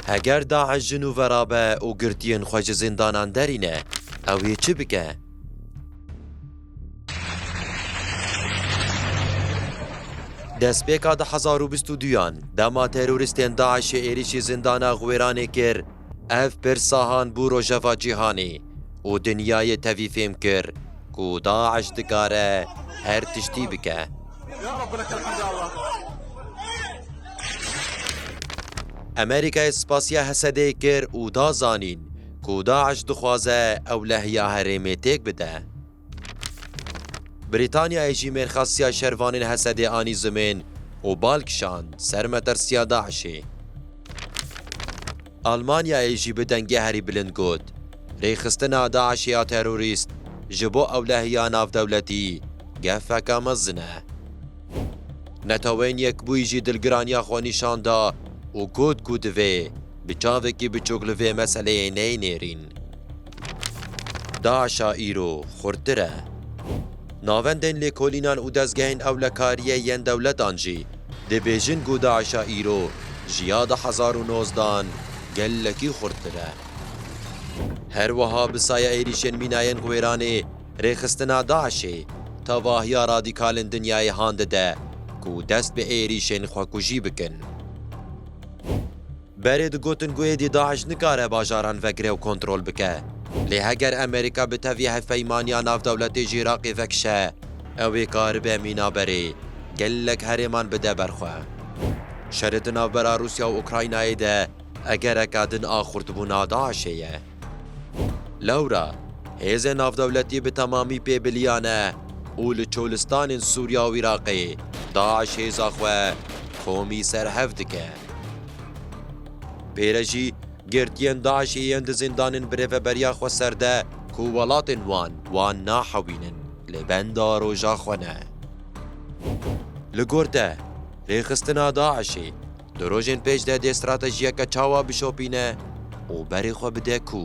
Heger DAIŞ ji nû verabe û girtiyên xwe ji zindanan derîne, ew ê çi bike? Destpêka du hezar û bîst û duyan, dema terorîstên DAIŞ'ê êrîşî zindana Xwêranê kir, Ev pir sahan bû rojeva cîhanê û dinyayê tevî fêm kir ku DAIŞ dikare her tiştî bike. Amerîkayê spasiya Hesedê kir û da zanîn ku DAIŞ dixwaze ewlehiya herêmê têk bide. Brîtanyayê jî mêrxasiya şervanên Hesedê anî zimên û bal kişand ser metirsiya DAIŞ'ê. Almanyayê jî bi dengê herî bilind got, Rêxistina DAIŞ'ê ya terorîst ji bo ewlehiya navdewletî gefeka mezin e. Neteweyên Yekbûyî jî dilgiraniya xwe nîşan da û got ku divê bi çavekî biçûk li vê meseleyê neyê nêrîn. DAIŞ'a îro xurttir e. Navendên lêkolînan û dezgehên ewlekariyê yên dewletan jî dibêjin ku DAIŞ'a îro ji ya du hezar û nozdeh an gelekî xurttir e. Her wiha bi saya êrîşên mînayên Wêranê rêxistina DAIŞ'ê tevahiya radîkalên dinyayê han dide ku dest bi êrîşên xwekujî bikin. Berê digotin ku êdî DAIŞ nikare bajaran vegire û kontrol bike. Lê heger Amerîka bi tevî Hevpeymaniya Navdewletî ji Iraqê vekişe, ew ê karibe mîna berê gelek herêman bide ber xwe. Şerê di navbera Rûsya û Ukraynayê de egereka din a xurtbûna DAIŞ'ê ye. Lewra hêzên navdewletî bi temamî pê bilîyane û li çolistanên Sûriya û Iraqê DAIŞ hêza xwe komî ser hev dike. Pêre jî girtiyên DAIŞ'ê yên di zîndanên bi rêveberiya xwe serde ku welatên wan wan nahewînin li benda roja xwe ne. Li gor te, rêxistina DAIŞ'ê Di rojên pêş de dê stratejiyeke çawa bişopîne û berê xwe bide ku?